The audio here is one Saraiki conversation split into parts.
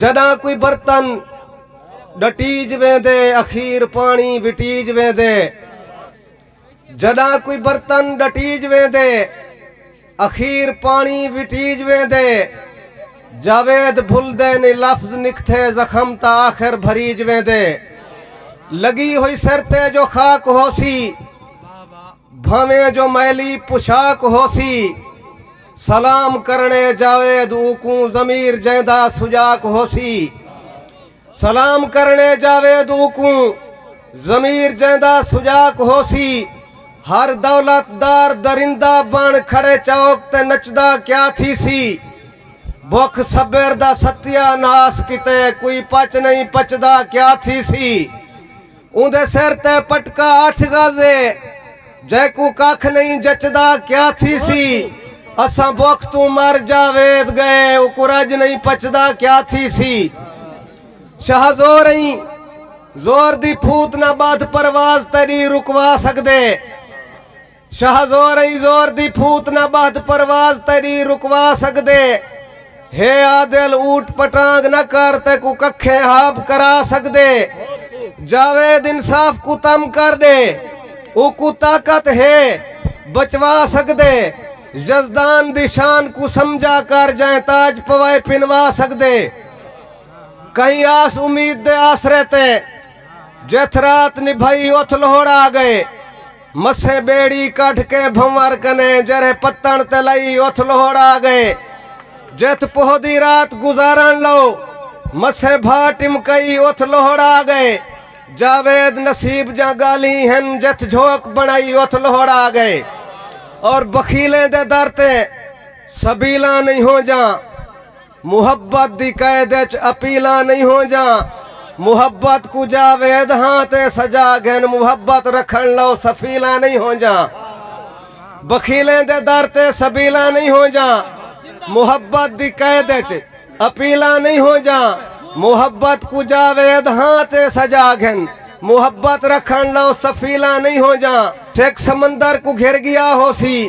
جݙاں کوئی برتن ݙٹیج ویندے اخیر پاݨی وٹیج ویندے جݙاں کوئی برتن ݙٹیج ویندے اخیر پاݨی وٹیج ویندے جاوید بھلدے نی لفظ نکتھے زخم تا آخر بھریج ویندے لگی ہوئی سر تے جو خاک ہوسی بھانویں جو میلی پوشاک ہوسی سلام کرݨے جاوید اوکوں ضمیر جیندا سجاک ہوسی سلام کرݨے جاوید اوکوں ضمیر جیندا سجاک ہوسی ہر دولت دار درندہ بن کھڑے چوک تے نچدا کیا تھیسی بکھ صبر دا ستیا ناس کیتے کوئی پچ نہیں پچدا کیا تھیسی اوندے سر تے پٹکا اٹھ گز اے جیکوں ککھ نئیں جچدا کیا تھیسی اساں بکھ توں مر جاوید گئے اوکوں رج نئیں پچدا کیا تھیسی شاہ زور ایں زور دی پھوت نہ بدھ پرواز تیڈی رکوا سگدے شاہ زور ایں زور دی پھوت نہ ٻہت پرواز تیݙی رکوا سڳدے ہے عادل اونٹ پٹانگ نہ کر تیکوں ککھیں ہاب کرا سڳدے جاوید انصاف کوں تم کر ݙے اوکوں طاقت ہے بچوا سڳدے یزدان دی شان کوں سمجھا کر جئیں تاج پوائے پنوا سڳدے کہیں آس امید دے آسرے تے جتھ رات نبھائی اتھ لہوڑا آ ڳئے مسے ٻیڑی کڈھ کے بھنور کنیں جرھے پتݨ تے لئی اتھ لوہڑ آ ڳئے جتھ پوہدی رات گزارݨ لئو مسے بھا ٹمکئی اتھ لوہڑ آ ڳئے جاوید نصیب جاں ڳالھیں ہن جتھ جھوک بݨائی اتھ لوہڑ آ ڳئے اور بخیلیں دے در تے سبیلاں نئیں ہونجاں محبت دی قید اچ اپیلاں نئیں ہونجاں محبت کوں جاوید ہاں تے سجا گھن محبت رکھن لو سفیلاں نئیں ہونجاں بخیلیں دے در تے سبیلاں نئیں ہونجاں محبت دی قید اچ اپیلاں نئیں ہونجاں محبت کوں جاوید ہاں تے سجا گھن محبت رکھن لو سفیلاں نئیں ہونجاں سکھ سمندر کوں گھر گیا ہوسی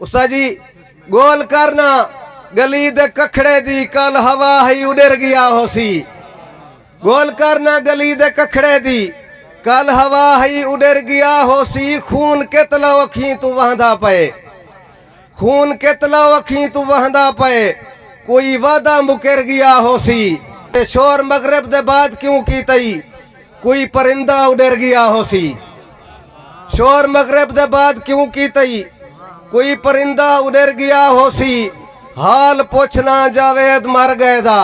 استاد جی گول کر نا گلی دے ککھڑے دی کل ہوا ہی اڈر گیا ہو سی گول کر نا گلی دے ککھڑے دی کل ہوا ہی اڈر گیا ہو سی خون کتلا اکھیں تو وہندا پئے خون کتلا اکھیں تو وہندا پئے کوئی وعدہ مکر گیا ہو سی شور مغرب دے بعد کیوں کی تئی کوئی پرندہ اڈر گیا ہو سی شور مغرب دے بعد کیوں کی تئی کوئی پرندہ اڈر گیا ہو سی حال پوچھنا جاوید مر گئے دا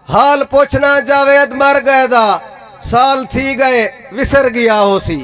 حال پوچھنا جاوید مر گئے دا سال تھی گئے وسر گیا ہو سی